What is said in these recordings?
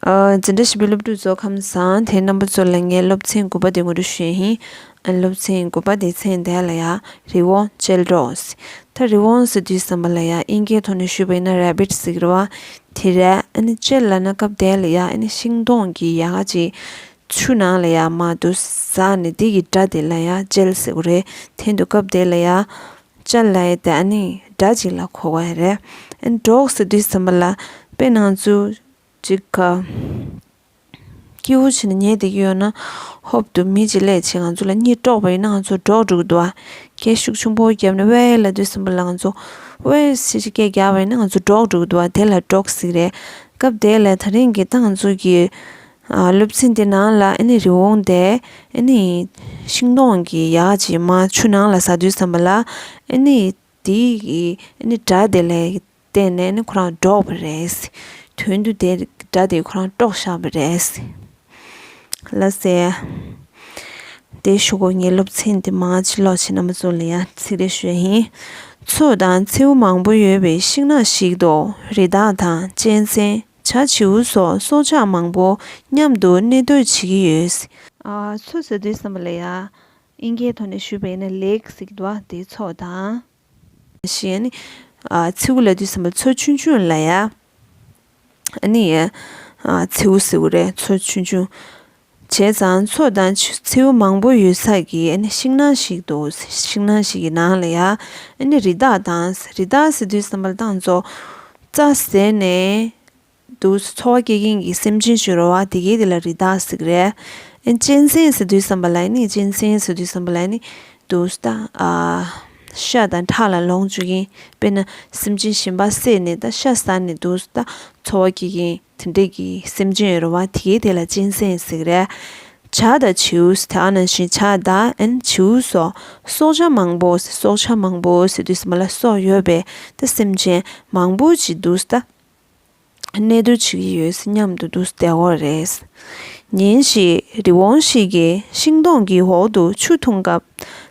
འཛིན་གྲྭ་བཞི་པའི་སློབ་ཕྲུག་ཚོ་ཁམས་བཟང་དེ་རྣམ་པ་ཚོ་ལ་ངས་སློབ་ཚན་དགུ་པ་དེ་ངོ་སྤྲོད་ཞུས་ཡིན། སློབ་ཚན་དགུ་པ་དེ་ཚན་དེ་ལ་ཡང་རི་བོང་ཅལ་འདྲོགས་ཟེར། ད་རི་བོང་ཟེར་དུས་བསམ་པ་ལ་ཡང་དབྱིན་སྐད་ཐོག་ནས་ཞུས་པ་ཡིན་ན Rabbit ཟེར་གི་རེད་བ། དེ་རེད། ཅལ་ལ་ན་སྐབས་དེ་ལ་ཡང་ཤིང་སྡོང་གི་ཡལ་ག་ཅིག་ཆུ་ནང་ལ་ཡང་མ་འདུག་ཟག་ནས་དེ་ཡི་སྒྲ་དེ་ལ་ཡང་ཅལ་ཟེར་གི་རེད། དེ་འདུག་སྐབས་དེ་ལ་ཡང། སྤྱན་ལ་ཡི་དྭགས་ནི་དགྲ་གཅིག་ལ་འཁོར་བ་རེ་གྲོགས་སུ་དུས་གསུམ་པ་ལ་དཔེ་སྣང་ཚུལ་གཅིག་གོ། སྐྱེས་བུ་ཆེ་ན་ཉེས་དེ་གཡོས་ན་ཧོབ་ཏུ་མི་བྱེད་ལས་བྱེད་ང་ཚོ་ལ་གཉིད་དཀྲོགས་པ་ཡིན་ན་ང་ཚོ་འགྲོགས་འགྲིག་འདུག་བ་ཁྱད་ཞུགས་ཆུང་པོ་བརྒྱབ་ནས་དབའས་ལ་དུས་གསུམ་པ་ལ་ང་ཚོ་དབའས་ཞེས་སྐད་རྒྱག་པ་ཡིན་ན་ང་ཚོ་འགྲོགས་འགྲིག་འདུག་བ་དེ་ལ་གྲོགས་ཤིག་རེད་སྐབས་དེ་ལ་ད་རིང་གི་ཏང་ཙུའུ་གིས་སློབ་ཚན་དེ་ནང་ལ་ཨེ་ནི་རི་བོང་དེ་ཨེ་ནི་ཤིང་སྡོང་གི་ཡ་གཅིག་མ་ཆུ་ནང་ལ་ཟ་དུས་བསམ་པ་ལ་ཨེ་ནི་དེ་ཡི་ཨེ་ནི་སྒྲ་དེ་ལས་བལྟས་ནས་ཨེ་ནི་ཁོ་རང་འདྲོགས་པ་རེད། དོན་དུ་དེ་སྒྲ་དེ་ཁོ་རང་དཀྲོག་བཞག་པ་རེད། ལ་ཟེར། དེ་ཞུ་གོ་ངའི་སློབ་ཚན་དེ་མ་ཕྱི་ལོགས་ཕྱི་ནང་མ་ཚུར་ལ་ཡ་ཚིག་རེ་ཤོད་ཧིན། མཚོ་དང་མཚེའུ་མང་པོ་ཡོད་པའི་ཤིང་ནགས་ཤིག་ཏུ་རི་དྭགས་དང་གཅན་གཟན། བྱ་བྱིའུ་སོགས་སྲོག་ཆགས་མང་པོ་མཉམ་དུ་གནས་སྡོད་བྱེད་ཀྱི་ཡོད། ཚོད་ཟེར་དུས་བསམ་པ་ལ་ཡ། ཨིན་ཁའི་ཐོག་ནས་བཞུད་པ་ཡིན་ན་ལེགས་ཟེར་གྱི་འདུག་བ་དེའི་ཚོགས་དང། ཞེས་ཡ་ནི། མཚེའུ་ལ་དུས་བསམ་པ་ཚོད་ཆུང་ཆུང་ལ་ཡ། ཨ་ནི། མཚེའུ་ཟེར་བ་རེད་ཚོད་ཆུང་ཆུང། བྱས་ཙང་མཚོ་དང་མཚེའུ་མང་པོ་ཡོད་ས་ཀྱི་ཤིང་ནགས་ཤིག་འདུག་ཤིང་ནགས་ཤིག་གི་ནང་ལ་ཡང་རི་དྭགས་དང་རི་དྭགས་ཟེར་དུས་བསམ་པར་སྟངས་བཙོག་རྩྭ་ཟེར་ནས་འདུག་འཚོ་བ་སྐྱེལ་མཁན་གྱི་སེམས་ཅན་བྱུ་རུ་བ་དེ་གའི་དེ་ལ་རི་དྭགས་ཟེར་གི་རེད། གཅན་གཟན་ཟེར་དུས་བསམ་པ་ལ་ནི་གཅན་གཟན་ཟེར་དུས་བསམ་པ་ལ་ནི་འདུག་ཤ་དང་ཁྲག་ལ་ལོངས་སྤྱོད་མཁན་དཔེར་ན་སེམས་ཅན་གཞན་པ་བསད་ནས་ད་ཤ་ཟ་ནས་འདུག་ད་འཚོ་བ་སྐྱེལ་མཁན། དེ་འདྲས་ཀྱི་སེམས་ཅན་རུ་བ་དེ་གའི་དེ་ལ་སྤྱན་སེན་གཟིགས་རས། བྱ་དང་བྱིའུས་དེ་ཨ་ན་བཞིན་བྱ་ད་ཨན་བྱིའུ་སོགས་སྲོག་ཆགས་མང་པོ་སྲོག་ཆགས་མང་པོ་སི་དུས་མ་ལ་སོགས་ཡོད་པས་ད་སེམས་ཅན་མང་པོ་ཅི་འདུག་ད་གནས་སྡོད་བྱེད་ཀྱི་ཡོད་སྙམ་དུ་འདུག་བདེ་བོ་རེད། ཉིན་ཞིག་རི་བོང་ཞིག་གིས་ཤིང་སྡོང་གི་འོག་ཏུ་ཆུ་འཐུང་སྐབས་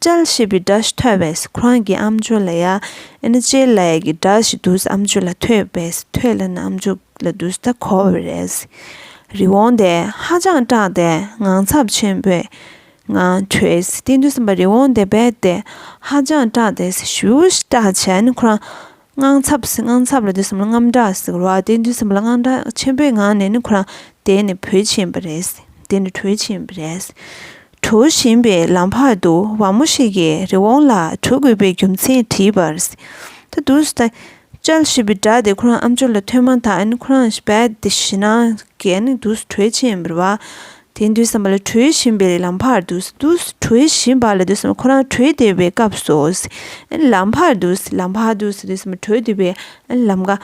ཅལ་ཞེས་པའི་སྒྲ་ཞིག་ཐོས་པས་ཁོ་རང་གི་ཨམ་ཆུ་ལ་ཡ་ཨན་ཅལ་ལ་ཡ་གི་སྒྲ་ཞིག་འདུག་ཨམ་ཆུ་ལ་ཐོས་པས་ཐོས་ལ་ནི་ཨམ་ཆུ་ལ་འདུག་སྟེ་གོ་བས་རེས་རེ་འོང་སྟེ་ཧ་ཅང་སྐྲག་སྟེ་ངང་ཚབས་ཆེན་པོའི་ངང་བྲོས་ཏེ་འདུག་སེམས་པ་རེ་འོང་སྟེ་བས་ཏེ་ཧ་ཅང་སྐྲག་སྟེ་ཞུ་བོ་ཞེས་སྐྲག་བྱས་ནས་ཁོ་རང་དངངས་འཚབ་བསིལ་དངངས་འཚབ་ལ་དུས་གསུམ་ལ་རྔམ་སྒྲ་བསིལ་བ་དེ་དུས་གསུམ་ལ་དངངས་སྒྲ་ཆེན་པོའི་ངང་ནས་ནི་ཁོ་རང་དེད་ནས་བུད་ཕྱིན་པ་རེད། དེ་ནི་བྲོས་ཕྱིན་པ་རེད། བྲོ་བཞིན་པའི་ལམ་བར་དུ་བ་མོ་ཞིག་གིས་རི་བོང་ལ་བྲོ་དགོས་པའི་རྒྱུ་མཚན་དྲིས་པར། ད་དུ་ཟ། ཅལ་ཞེས་པའི་སྒྲ་དེ་ཁོ་རང་ཨམ་ཅོག་ལ་ཐོས་མ་ཐག་ཁོ་རང་བད་དེ་ཞི་ནང་གི་དུས་སུ་བྲོས་ཕྱིན་པར་བ། དེ་འདུལ་བསམ་པ་ལ་གྲོལ་བཞིན་པའི་ལམ་བར་དུ། གྲོལ་བཞིན་པ་ལ་འདུལ་བསམ་པ་ཁོ་རང་གྲོལ་བདེ་བའི་སྐབས་སུ། ལམ་བར་དུ། ལམ་བར་དུ་འདུལ་བསམ་པ་གྲོལ་བདེ་བའི་ལམ་ཀ།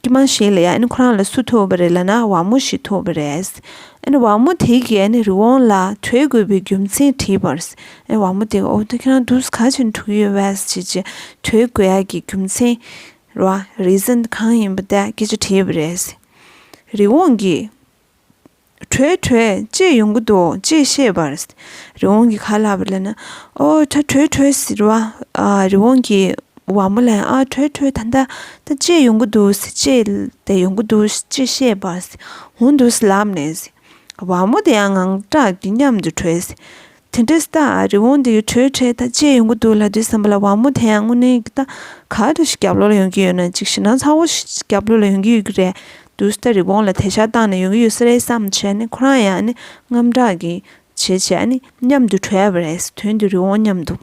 ཀྱི་མ་ཞིག་ལ་ཡང་ཁོ་རང་ལ་སུ་ཐུག་པ་རེད་ལ་ན་བ་མོ་ཞིག་ཐུག་པ་རེད། བ་མོ་དེ་གའི་རི་བོང་ལ་གྲོལ་དགོས་པའི་རྒྱུ་མཚན་དྲིས་པར། བ་མོ་དེ་ག་འོག་ཏུ་ཁྱེད་རང་འདུག་ག་ཕྱིར་འཁྲུག་ཡོད་བས་ཅི་ཅི་གྲོལ་དགོས་ཡ་གི་རྒྱུ་མཚན། རེ་ཟན་གང་ཡིན་པ་དེ་སྐད་ཅེས་དྲིས་པ་རེད། རི་བོང་གིས། གྲོལ་གྲོལ་ཅེས་ཡོང་གི་འདུག་ཅེས་བཤད་པར། རི་བོང་གིས་ག་ལ་ལབ་པ་ལབ་ན། ཨོ་ད་གྲོལ་གྲོལ་ཟེར་བ། རི་བོང་གིས་བ་མོ་ལ་ཡང་ཨ་གྲོལ་གྲོལ་ད་ལྟ་ད་ཅེས་ཡོང་གི་འདུག་ཟེར་ཅེས་དེ་ཡོང་གི་འདུག་ཅེས་བཤད་པར། འོང་འདུག་ལབ་ནས། བ་མོ་དེ་ཡང་ངང་སྐྲག་གིས་མཉམ་དུ་གྲོལ། དེ་འདྲའི་སྟག་ཨ་རི་བོང་འདི་ཡི་དྲོད་ཁྲལ་ཐག་བཅད་ཡོང་གི་འདུག་ལ་དུས་བསམ་པ་ལ་བ་མོ་དེ་ཡང་དངོས་གནས་ཀྱི་སྟག་ག་དེ་ཞིག་རྒྱབ་ལོག་ལ་ཡོང་གི་ཡོད་ན་ཅིག་ཤི་ན་ཚ་བོ་ཞིག་རྒྱབ་ལོག་ལ་ཡོང་གི་ཡོད་ཀྱི་རེད་འདུག་སྟག་རི་བོང་ལ་དེ་ཤ་བཏང་ནས་ཡོང་གི་ཡོད་ས་རེད་བསམ་བྱས་ནས་ཁོ་རང་ཡང་ནི་རྔམ་སྐྲག་གིས་བྱས་བྱས་ནས་མཉམ་དུ་བྲོས་པ་རེད་དོན་དུ་རི་བོང་མཉམ་དུ།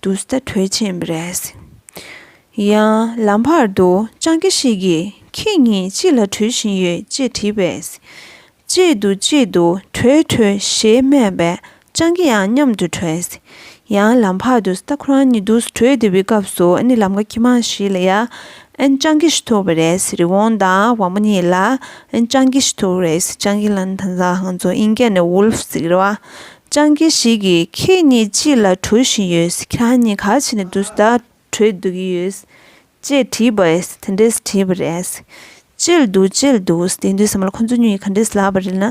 དུ་སྟེ་གྲོས་བྱེད་མི་རེད། ཡང་ལམ་བར་དུ་སྤྱང་ཀི་ཞིག་གིས་ཁྱེད་གཉིས་ཅི་ལ་བྲོས་བཞིན་ཡོད་ཅེས་དྲིས་པས། གཅེས་འདུག་གཅེས་འདུག་བྲོས་བྲོས་ཞེས་སྨྲས་པས་སྤྱང་ཀི་ཡང་མཉམ་དུ་བྲོས། ཡང་ལམ་བར་དུ་སྟག་ཁོ་རང་ཉིད་དུ་བྲོས་བསྡད་པའི་སྐབས་སུ་ནི་ལམ་ཁ་ཁྱི་མང་ཞིག་ལ་ཡང་སྤྱང་ཀི་ཞིག་ཐུག་པ་རེད་རི་བོང་དང་བ་མོ་གཉིས་ལ་སྤྱང་ཀི་ཞིག་ཐུག་རེད་སྤྱང་ཀི་ལ་ནི་དང་བཟའ་ཧང་ཚོ་ཨིན་སྐད་ནས Wolf ཟེར་བ་སྤྱང་ཀི་ཞིག་གིས་ཁྱེད་གཉིས་ཅི་ལ་བྲོ་བཞིན་ཡོད་ཁྱེད་རང་གཉིས་ག་བྱེད་ནས་འདུག་ཟླ་བྲོས་འདུག་གི་ཡོད། ཅེས་དྲིས་པ། དེ་འདྲས་དྲིས་པ་རེད། བཅད་འདུག་བཅད་འདུག་དེ་འདུག་ཟེར་མ་ལ་ཁོ་ཚོ་གཉིས་ག་འདྲས་ལབ་པ་རེད་ན།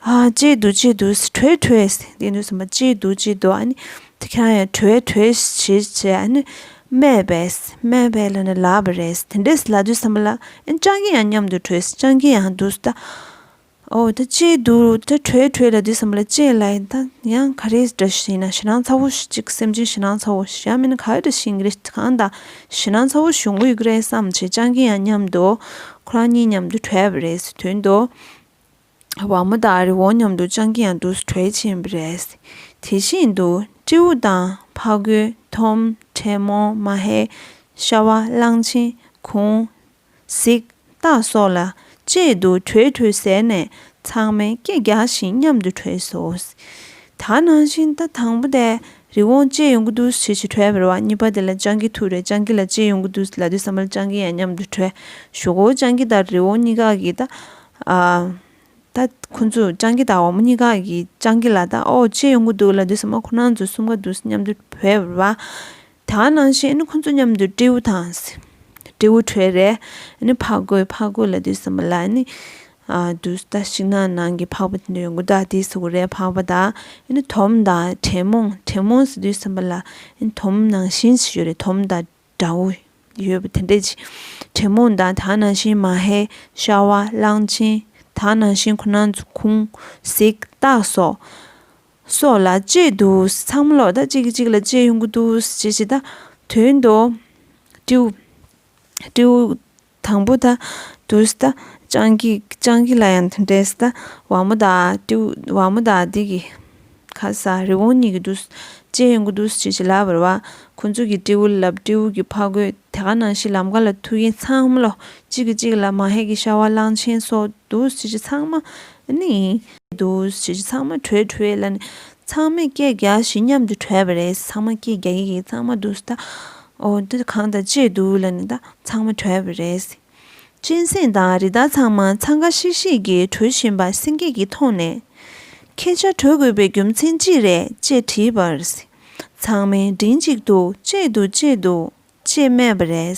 བཅད་འདུག་བཅད་འདུག་བྲོས་བྲོས་དེ་འདུག་ཟེར་མ་བཅད་འདུག་བཅད་འདུག་ཨ་ནི་དེ་ཁྱེད་རང་གཉིས་བྲོས་བྲོས་བྱེད་བྱེད་ཨ་ནི་སྨྲས་པས། སྨྲས་པས་ལབ་ནས་ལབ་པ་རེད། དེ་འདྲས་ལབ་འདུག་ཟེར་མ་ལ། སྤྱང་ཀི་ཡང་མཉམ་དུ་བྲོས་སྤྱང་ཀི་ཡང་འདུག་ཟླ། ཨོ་ད་ཅི་འདུག་ད་གྲོས་གྲོས་ལ་འདི་བསམ་ལ་ཅི་ལ་ཡིན་ད་ཡང་ག་རེ་འདྲ་ཞིག་ཡིན་ན་ཞེ་སྣང་ཚ་བོ་ཅིག་སེམས་ཅན་ཞེ་སྣང་ཚ་བོ་ཞེ་མིན་ག་རེ་ཞིག་ཡིན་གི་རེད་གང་ལྟ་ཞེ་སྣང་ཚ་བོ་བྱུང་གི་རེད་བསམ་ཆེད་སྤྱང་ཀི་ཡང་མཉམ་དུ་ཁོ་རང་གཉིས་མཉམ་དུ་གྲོས་པ་རེད་དོན་དུ་བ་མོ་དང་རི་བོང་མཉམ་དུ་སྤྱང་ཀི་ཡང་དུས་སུ་གྲོས་བྱེད་ཡིན་པ་རེད་དེ་བཞིན་དུ་སྤྲེའུ་དང་ཕ་གོས་ཐོམ་བྲེ་མོ་མ་ཧེ་ཤྭ་བ་གླང་ཆེན་གུང་གཟིག། སྟག་སོགས་ལ། བཅས་འདུག་གྲོས་འཐུས་ཟེར་ནས་ཚང་མས་སྐད་རྒྱག་བཞིན་མཉམ་དུ་གྲོས་སོ། ད་ནང་བཞིན་ད་དང་པོ་དེ་རི་བོང་ཅེས་ཡོང་གི་འདུག་ཞེས་ཞེས་གྲོས་བར་བ་གཉིས་པ་དེ་ལ་སྤྱང་ཀི་ཐུག་རེད་སྤྱང་ཀི་ལ་ཅེས་ཡོང་གི་འདུག་ལ་དུས་སམ་བར་སྤྱང་ཀི་ཡང་མཉམ་དུ་གྲོས་ཞུགས་གོ་སྤྱང་ཀི་དང་རི་བོང་གཉིས་ཀ་གིས་ད། ད། ཁོ་ཚོས་སྤྱང་ཀི་དང་བ་མོ་གཉིས་ཀ་གིས་སྤྱང་ཀི་ལ་ད་ཨོ་ཅེས་ཡོང་གི་འདུག་ལ་དུས་སམ་བ་ཁོ་ནང་ཚོ་གསུམ་ག་འདུག་མཉམ་དུ་གྲོས་བར་བ། ད་ནང་བཞིན་ཁོ་ཚོ་མཉམ་དུ་སྤྲེའུ་དང། སྤྲེའུ་ཁྲོད་རེ་ནི་ཕག་རྒོད་ཕག་རྒོད་ལ་དུས་གསུམ་པ་ལ་ནི། དུས་ལྟ་ཞིག་ན་ནང་གི་ཕག་པ་དེ་ནི་དགུ་དག་དེའི་སུག་རའི་ཕག་པ་དང། དོམ་དང་དྲེད་མོང་དྲེད་མོང་སི་དུས་གསུམ་པ་ལ་ནི་དོམ་ནང་བཞིན་ཞིག་ཡོད་རེད་དོམ་དང་དགྲ་བོ་ཡོད་པ་དེ་འདྲས་ཅིག་དྲེད་མོང་དང་ད་ནང་བཞིན་མ་ཧེ་ཤ་བ་གླང་ཆེན་ད་ནང་བཞིན་ཁོ་ནང་ཚོ་ཁུང་གཟིག་སྟག་སོགས། སོགས་ལ་གཅེས་འདུག་ཚང་མ་ལོག་ལྟ་གཅིག་གིས་གཅིག་ལ་གཅེས་ཡོང་གི་འདུག་ཅེས་བྱེད་ད་དོན་དུ། སྤྲེའུ། དང་པོ་ད་དུས་ད་སྤྱང་ཀི་སྤྱང་ཀི་ལ་ཡང་འདྲེས་ད་བ་མོ་ད་སྤྲེའུ་བ་མོ་ད་འདི་གི་ཁ་ཟ་རི་བོང་གཉིས་ཀྱི་འདུག་གཅེས་ཡོང་གི་འདུག་ཅེས་བྱེད་ལབ་བར་བ་ཁོ་ཚོ་གིས་སྤྲེའུ་ལ་ལབ་སྤྲེའུ་གིས་ཕ་རྒོད་དེ་ག་ནང་ཤི་ལམ་ག་ལ་ཐུག་གིན་ཚང་མ་ལོག་གཅིག་གིས་གཅིག་ལ་མ་ཧེ་གི་ཤ་བ་གླང་ཆེན་སོགས་འདུག་ཅེས་བྱེད་ཚང་མ་ནི། དུ། ཞེས་ཚང་མ་བྲོས་བྲོས་ལ། ཚང་མས་སྐད་རྒྱག་བཞིན་མཉམ་དུ་བྲོས་པ་རེད། ཚང་མ་སྐད་རྒྱག་གི་གི་ཚང་མ་དུ་ཟླ། འོ། དུ་གང་དང་བཅས་འདུག་ལ་ནི་ད་ཚང་མ་བྲོས་པ་རེད། གཅན་སེང་དང་རི་དྭགས་ཚང་མ་འཚང་ཁ་ཤིག་ཤིག་གིས་བྲོས་བཞིན་པ་སེང་གེ་གིས་མཐོང་ནས། ཁྱེད་ཅག་བྲོས་དགོས་པའི་རྒྱུ་མཚན་ཅི་རེད་ཅེས་དྲིས་པར། ཚང་མས་མགྲིན་གཅིག་ཏུ་བཅད་འདུག་བཅད་འདུག་ཅེས་སྨྲས་པ་རེད།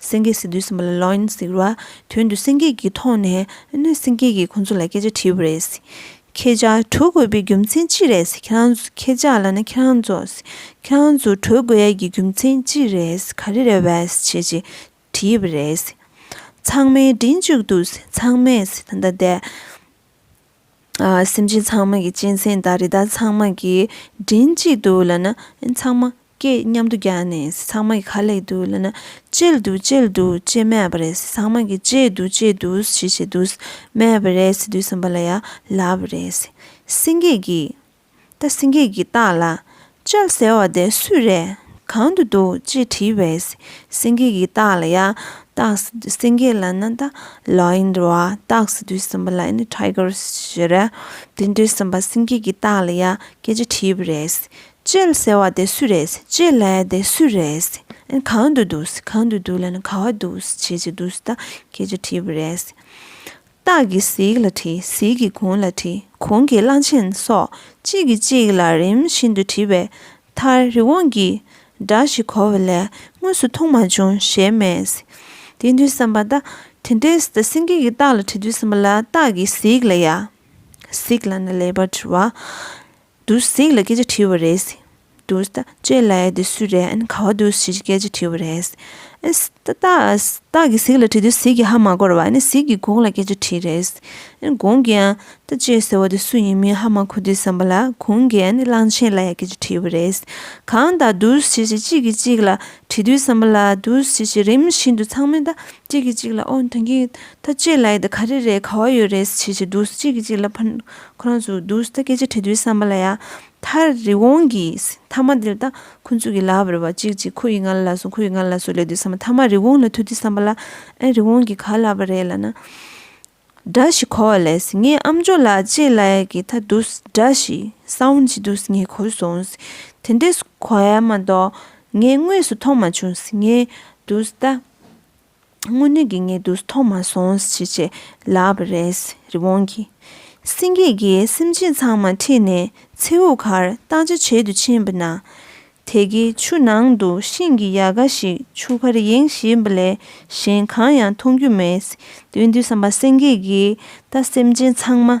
སེང་གེ་སི་ཏུའི་སེམས་པ་ལ་ལོག་ཡིན་ཟེར་བ་དོན་དུ་སེང་གེ་གིས་མཐོང་ནས་ནི་སེང་གེ་གིས་ཁོ་ཚོ་ལ་སྐད་ཆ་དྲིས་པ་རེད། ཁྱེད་ཅག་གྲོལ་དགོས་པའི་རྒྱུ་མཚན་ཅི་རེད། ཁྱེད་ཅག་ལ་ནི་ཁྱེད་རང་ཚོ། ཁྱེད་རང་ཚོ་གྲོལ་དགོས་ཡ་གི་རྒྱུ་མཚན་ཅི་རེད་ག་རེ་རེད་བས་ཞེས་ཅེས་དྲིས་པ་རེད། ཚང་མས་མགྲིན་གཅིག་ཏུ་ཚང་མས་ད་ལྟ་བསྡད། སེམས་ཅན་ཚང་མ་གི་གཅན་གཟན་དང་རི་དྭགས་ཚང་མ་གི་མགྲིན་གཅིག་ཏུ་ལ་ན་ཚང་མ་སྐད་མཉམ་དུ་རྒྱག་ནས་ཚང་མ་གི་ཁ་ལེགས་འདུག་ལ་ན་གཅེས་འདུག་གཅེས་འདུག་ཅེས་སྨྲས་པ་རེད་ཚང་མ་གི་གཅེས་འདུག་གཅེས་འདུག་ཞེས་བྱས་འདུག་སྨྲས་པ་རེད་འདུག་སེམས་པ་ལ་ཡང་ལབ་རེད་སེང་གེ་གིས། ད་སེང་གེ་གི་སྟངས་ལ་ལྕགས་ཟེར་བ་དེ་སུས་རེད་གང་དུ་འདུག་ཅེས་དྲིས་པས་སེང་གེ་གི་སྟངས་ལ་ཡང་སྟགས་ཟེར་དུས་སེང་གེ་ལ་ན་ད Lion རེད་བ་སྟགས་ཟེར་དུས་སེམས་པ་ལ་ནི Tiger ཞེས་རེད་དེ་འདྲའི་སེམས་པ་སེང་གེ་གི་སྟངས་ལ་ཡང་སྐད་ཅེས་དྲིས་པས་རེད་ཅེལ་ཟེར་བ་དེ་སུས་རེད་ཅེ་ལ་དེ་སུས་རེད་གང་དུ་འདུག་གང་དུ་འདུག་ལ་ན་ག་བ་འདུག་ཅེས་ཅེ་དུས་ད་སྐད་ཅེས་དྲིས་པས་རེད། སྟག་གི་གཟིག་ལ་བྲི་གཟིག་གི་གུང་ལ་བྲི་གུང་གི་གླང་ཆེན་སོགས་གཅིག་གིས་གཅིག་ལ་རིམ་བཞིན་དུ་བྲིས་པའི་མཐར་རི་བོང་གི་སྒྲ་ཞིག་གོ་བ་ལས་དངོས་སུ་མཐོང་མ་བྱུང་ཞེས་སྨྲས། དེ་དུས་བསམ་པ། ད་དེ་འདྲའི་སེང་གེ་ཀྱི་སྟག་ལ་བྲིས་དུས་སེམས་པ་ལ་སྟག་གི་གཟིག་ལ་ཡ། གཟིག་ལ་ནི་ལེགས་པར་བྲི་བ། འདུག་ཟིག་ལ་སྐད་ཆ་དྲིས་པ་རེད། འདུག་ད་ཁྱོད་ལ་ཡ་དེ་སུས་རེད་ཨན་ག་བ་འདུག་ཞེས་སྐད་ཆ་དྲིས་པ་རེད། ཨན། ཏག་ཏག་ཏག་གིས་ཟིག་ལ་དྲིས་དུས་ཟིག་གིས་ཧ་མ་གོ་ར་བ་ཨན་ཟིག་གིས་གོང་ལ་སྐད་ཆ་དྲིས་རེད། ཨན་གོང་གིས་ཨན། ད་ཁྱོད་ཟེར་བ་དེ་སུ་ཡིན་མིན་ཧ་མ་གོ་དུས་བསམ་པ་ལ་གོང་གིས་ཨན་གླང་ཆེན་ལ་ཡ་སྐད་ཆ་དྲིས་པ་རེད། གང་ད་འདུག་ཞེས་ཞེས་གཅིག་གིས་གཅིག་ལ་དྲིས་དུས་བསམ་པ་ལ་འདུག་ཞེས་ཞེས་རིམ་བཞིན་དུ་ཚང་མས་ད་གཅིག་གིས་གཅིག་ལ་ཨོ་ད་གིན། ད་ཁྱོད་ལ་ཡ་དེ་ག་རེ་རེད་ག་བ་ཡོད་རེད་ཞེས་ཞེས་འདུག་ཅིག་གིས་གཅིག་ལ་ཕ། ཁོ་རང་ཚོ་རྡུལ་ས་སྐད་ཅིག་དྲི་རྡུལ་བསམ་པ་ལ་ཡང་མཐར་རི་བོང་གི་མཐའ་མ་འདིར་ད་ཁོ་ཚོས་གི་ལག་བར་བ་ཅིག་ཅིག་ཁོ་ཡི་ང་ལ་ལ་སོང་ཁོ་ཡི་ང་ལ་ལ་སོང་ལས་དུས་ས་མ་མཐའ་མ་རི་བོང་ལ་ཐུག་དུས་བསམ་པ་ལ་ཨེ་རི་བོང་གིས་ག་ལ་བ་རེད་ལ་ན། སྒྲ་ཞིག་གོ་བ་ལས་ངའི་ཨ་མཆོག་ལགས་ཅེས་ལ་ཡ་གི་ད་རྡུལ་སྒྲ་ཞིག Sound ཅིག་འདུག་ངས་གོ་སོང། དེ་འདྲས་གོ་ཡ་མ་གཏོགས་ངས་དངོས་སུ་མཐོང་མ་བྱུང་ངས་རྡུལ་ས། དངོས་གནས་ཀྱི་ངའི་དུས་ཐོག་མ་སོང་ཞེས་བྱས་ལབ་པ་རེད། རི་བོང་གིས་སེང་གེ་འགའི་སེམས་ཅན་ཚང་མ་ཁྲིད་ནས་མཚེའུ་ཁར་བརྟག་དཔྱད་བྱེད་དུ་ཕྱིན་པ་ན། དེ་གའི་ཆུ་ནང་དུ་ཤིང་གི་ཡལ་ག་ཞིག་ཆུ་ཁར་ཡེངས་བཞིན་པ་ལས་གཞན་གང་ཡང་མཐོང་རྒྱུ་མེད། དེ་བས་འདུན་བསམ་པ་སེང་གེ་འགས་ད་སེམས་ཅན་ཚང་མ་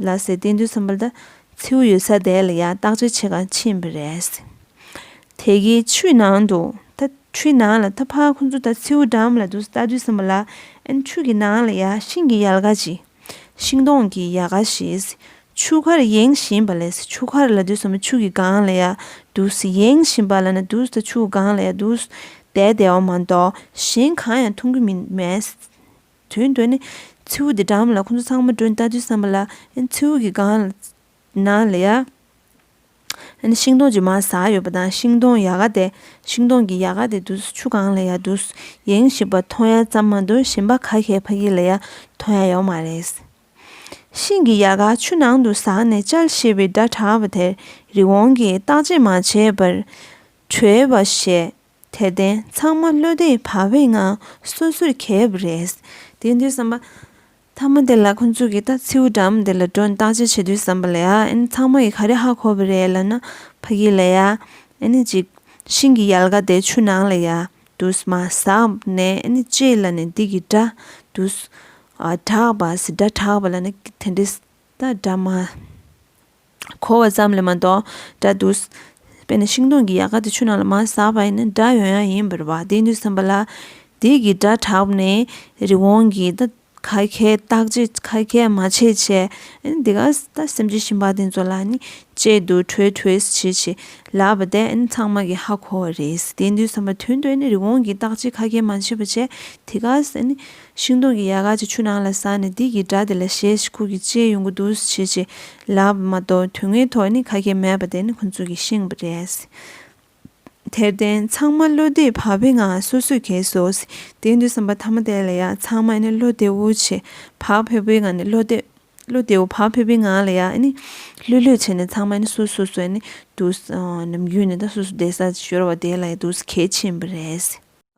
ལ་ཟེར་བསྟན་དུས་གསུམ་པ་ལ་མཚེའུ་ཡོད་ས་དེ་ལ་ཡང་བརྟག་དཔྱད་བྱེད་གང་ཕྱིན་པ་རེད། དེ་གའི་ཆུའི་ནང་དུ་ད་ཆུའི་ནང་ལ་ད་ཕ་ཁོ་ཚོ་ད་མཚེའུ་འགྲམ་ལ་འདུག་ས་བལྟ་དུས་གསུམ་པ་ལ་ཨན་ཆུ་གི་ནང་ལ་ཡང་ཤིང་གི་ཡལ་ག་ཅིག་ཤིང་སྡོང་གི་ཡལ་ག་ཞིག་ཆུ་ཁར་ཡེངས་བཞིན་པ་ལས་ཆུ་ཁར་ལ་དུས་གསུམ་པ་ཆུ་གི་སྒང་ལ་ཡང་འདུག་ས་ཡེངས་བཞིན་པ་ལ་ན་འདུག་ད་ཆུ་སྒང་ལ་ཡང་འདུག་ས་དེ་བདེ་བ་མ་གཏོགས་གཞན་གང་ཡང་མཐོང་གི་མེད། དོན་དུ་ནི། མཚེའུ་དེ་འགྲམ་ལ་ཁོ་ཚོ་ཚང་མ་བྲོས་ནས་ལྟ་དུས་བསམ་པ་ལ། མཚེའུ་གི་སྒང། ན་ལ་ཡ། ཤིང་སྡོང་ཅུང་མ་ཟ་ཡོད་པ་དང་ཤིང་སྡོང་ཡ་ག་དེ། ཤིང་སྡོང་གི་ཡ་ག་དེ་དུ་ཆུ་སྒང་ལ་ཡ་དུ། ཡེང་ཞིག་པ་ཐོ་ཡ་ཙམ་མ་དུ་ཞིམ་པ་ག་ཤའི་ཕ་གི་ལ་ཡ་ཐོ་ཡ་ཡོག་མ་རེད། ཤིང་གི་ཡ་ག་ཆུ་ནང་དུ་ཟགས་ནས་ཅལ་ཞེས་པའི་སྒྲ་གྲགས་པ་དེར་རི་བོང་གིས་བརྟག་དཔྱད་མ་བྱས་པར། བྲོས་པ་ཞེས་དད་ལྡན་ཚང་མ་བློ་བདེ་བག་བའི་ངང་སོ་སོར་གྱེས་ཡོད་པ་རེད། དེང་དུས་བསམ་པ། མཐའ་མ་དེ་ལ་ཁོ་ཚོ་གིས་ད་མཚེའུ་འགྲམ་དེ་ལ་འགྲོ་བརྟག་དཔྱད་བྱེད་དུས་བསམ་པ་ལ་ཡ་ཨེ་ཚང་མ་ཡིས་ག་རེ་ཧ་གོ་བ་རེད་ལབ་ན་ཕ་གི་ལ་ཡ་ཨེ་ནི་ཅིག་ཤིང་གི་ཡལ་ག་དེ་ཆུ་ནང་ལ་ཡ་དུས་མ་ཟག་ནས་ཨེ་ནི་ཅིག་ལ་ནི་འདི་གི་སྒྲ་དུས་ཨ་གྲགས་པ་སི་སྒྲ་གྲགས་པ་ལ་ནི་དེ་འདྲའི་ད་སྒྲ་མ། གོ་བ་ཙམ་ལས་མ་གཏོགས་འདྲ་འདུག། དཔེར་ན་ཤིང་སྡོང་གི་ཡལ་ག་དེ་ཆུ་ནང་ལ་མ་ཟགས་པ་ཡིན་ན་སྒྲ་ཡོད་ཡང་ཡིན་པར་བ་དེ་འདུག་བསམ་པ་ལ། དེ་གི་སྒྲ་གྲགས་ནས་རི་བོང་གི་ད་ག་གས་བཏགས་ཅི་ག་གས་མ་བྱས་བྱས། འདི་ག་ད་སེམས་ཅན་ཞིང་པ་དེ་ཚོ་ལ་ནི་དཔྱད་དུ་གྲོལ་གྲོལ་བྱེད་བྱེད་ལབ་པ་དེ་ནི་ཚང་མ་གི་ཧ་གོ་བ་རེད། དེ་འདུག་བསམ་པ་དོན་དུ་ནི་རི་བོང་གི་བཏགས་ཅི་ག་གས་མ་བྱས་བྱས། དེ་ག་ནི། ཤིང་སྡོང་གི་ཡལ་ག་ཅིག་ཆུ་ནང་ལ་ཟགས་ནས་དིག་གི་སྒྲ་དེ་ལ་ཞེད་ཅིག་ཁུག་གིས་ལྕེའི་ཡོང་སྒོ་སྡུག་སུ་བྱེད་ཅེས་ལབ་པ་མ་གཏོགས་དུས་ངན་ཐོག་ནི་ཁ་སྐད་མེད་པ་དེ་ནི་ཁོ་ཚོ་གི་ཤིང་བུ་རེད། དེར་བརྟེན་ཚང་མ་བློ་བདེ་བག་ཕེབས་ངང་སོ་སོས་གས་བཟོ་དེའི་འདུན་བསམ་པ་ཐ་མ་དེ་ལ་ཡང་ཚང་མ་ནི་བློ་བདེ་བོ་ཆེ་བག་ཕེབས་པོའི་ངང་ནས་བློ་བདེ་བློ་བདེ་བོ་བག་ཕེབས་པོའི་ངང་ལ་ཡང་ནི་ལྷོད་ལྷོད་བྱས་ནས་ཚང་མ་ནི་སོ་སོ་སོ་ནི་འདུག་ནམ་རྒྱུན་ནི་ད་སོ་སོ་བསྡད་ས་ཤོར་བ་དེ་ལ་ཡང་འདུག་གས་ཕྱིན་པ་རེད།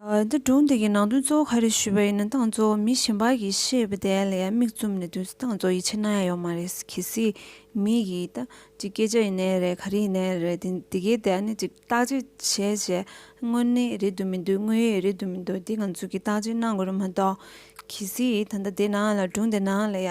འདི་སྒྲུང་འདི་གི་ནང་དོན་གཙོ་བོ་ག་རེ་ཞུས་པ་ཡིན་ན་ཏང་གཙོ་བོ་མི་གཞན་པ་གིས་ཤེས་པ་དེ་ལ་ཡང་མིག་བཙུམ་ནས་དུས་ཚོད་ཏང་གཙོ་ཡིད་ཆེས་གནང་ཡ་ཡོད་མ་རེད་གལ་སྲིད་མི་གིས་ད་ཅི་སྐད་ཆ་ཡིན་ནའི་རེད་ག་རེ་ཡིན་ནའི་རེད་དེ་གའི་ཐད་ནས་ཅིག་བརྟག་དཔྱད་བྱས་བྱས་དངོས་གནས་རེད་འདུག་མི་འདུག་དངོས་ཡོད་རེད་འདུག་མི་འདུག་དེ་ང་ཚོ་གིས་བརྟག་དཔྱད་གནང་དགོས་རེད་མ་གཏོགས་གལ་སྲིད་ད་ལྟ་དེ་ནང་ལ་སྒྲུང་དེ་ནང་ལ་ཡ